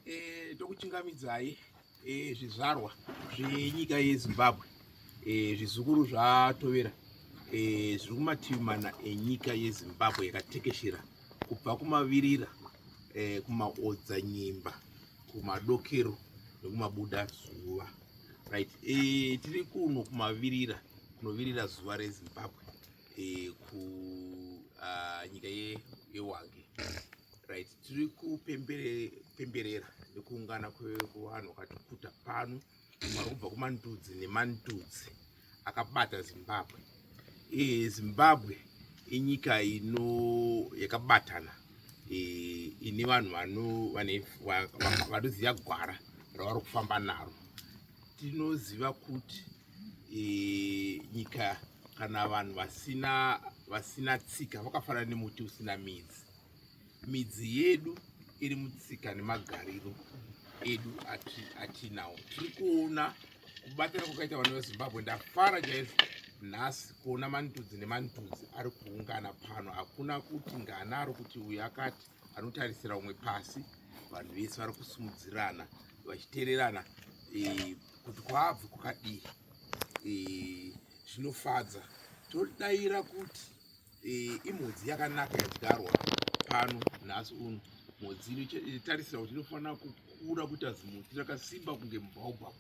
Eh, tokuchingamidzai eh, zvizvarwa zvenyika yezimbabwe eh, zvizukuru zvatovera zviri kumativi mana enyika yezimbabwe yakatekeshera kubva kumavirira kumaodza nyimba kumadokero nekumabuda zuva right tiri kuno kumavirira kunovirira zuva rezimbabwe eh, kunyika ah, uh, yewange right tiri kupemberera nekuungana kwevanhu wakatikuta pano vari kubva kumandudzi nemandudzi akabata zimbabwe e, zimbabwe inyika ino yakabatana e, ine vanhu vanoziva gwara ravari kufamba naro tinoziva kuti e, nyika kana vanhu vasina vasina tsika vakafanana nemuti usina midzi midzi yedu iri mutsika nemagariro edu atinawo tiri kuona kubatana kwakaita vana vezimbabwe ndafara chaizvo nhasi kuona mantudzi nemantudzi ari kuungana pano hakuna kuti ngana ari kuti uyu akati anotarisira umwe pasi vanhu vese vari kusimudzirana vachitererana eh, kuti kwabvi kwakadii eh, zvinofadza todaira kuti eh, imhodzi yakanaka yadyarwa pano nhasi uno mhodzi inotarisira kuti inofanira kukura kuita zimuti rakasimba kunge mubhaubha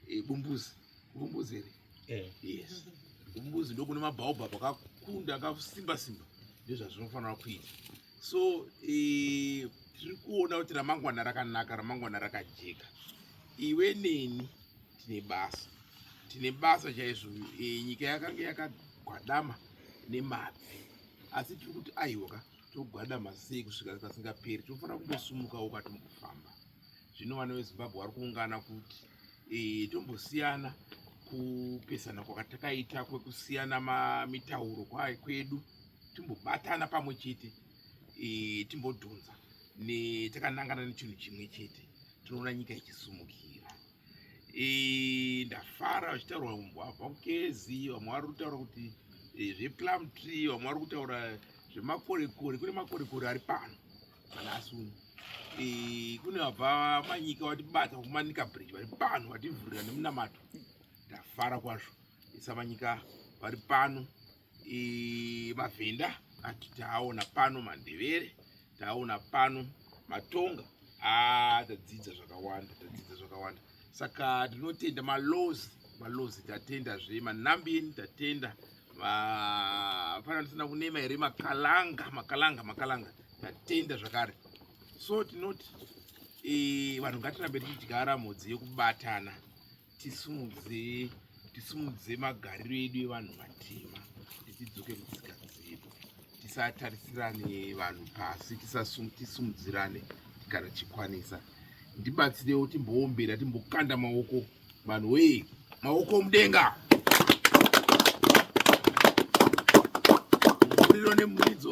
wekubumbuzi kubumbuzi here eh. yes kubumbuzi ndokune mabhaubha akakunda akasimba simba ndozvazvinofanira kuita so tiri kuona kuti ramangwana rakanaka ramangwana rakajeka iwe neni tine basa tine basa chaizvo e, nyika yakange yakagwadama nemabvi asi tiri kuti aiwa ka togwadama sei kusvika kasingaperi tofanira kungosumuka uka tombofamba zvino vana vezimbabwe vari kuungana kuti e, tombosiyana kupesana kwakatakaita kwekusiyana mitauro kwedu timbobatana pamwe chete e, timbodhunza takanangana nechinhu chimwe chete tinoona nyika ichisumukira ndafara vachitaurwa umbwavha kukezi vamwe vari kutaura kuti e, zveplum tree vamwe vari kutaura zvemakorekore kune makorekore ari pano kana asuni e, kune vabva manyika vatibata kumanika bridge vari pano vativhurira nemunamato ndafara kwazvo isava nyika vari pano e, mavhenda ati taaona pano mandevere taaona pano matonga ah, tadzidza zvakawanda tadzidza zvakawanda saka tinotenda malozi malozi tatenda zve manambini tatenda hapana tisina kunema here makalanga makalanga makalanga tatenda zvakare so tinoti e, vanhu ngatirambe tichidyara mhodzi yekubatana tisimudze tisimudze magariro edu evanhu vatema tidzoke kutsika dzedu tisatarisirane vanhu pasi tisumudzirane kana chikwanisa ndibatsirewo timboombera timbokanda maoko vanhu wee maoko mudenga muriro nemuridzo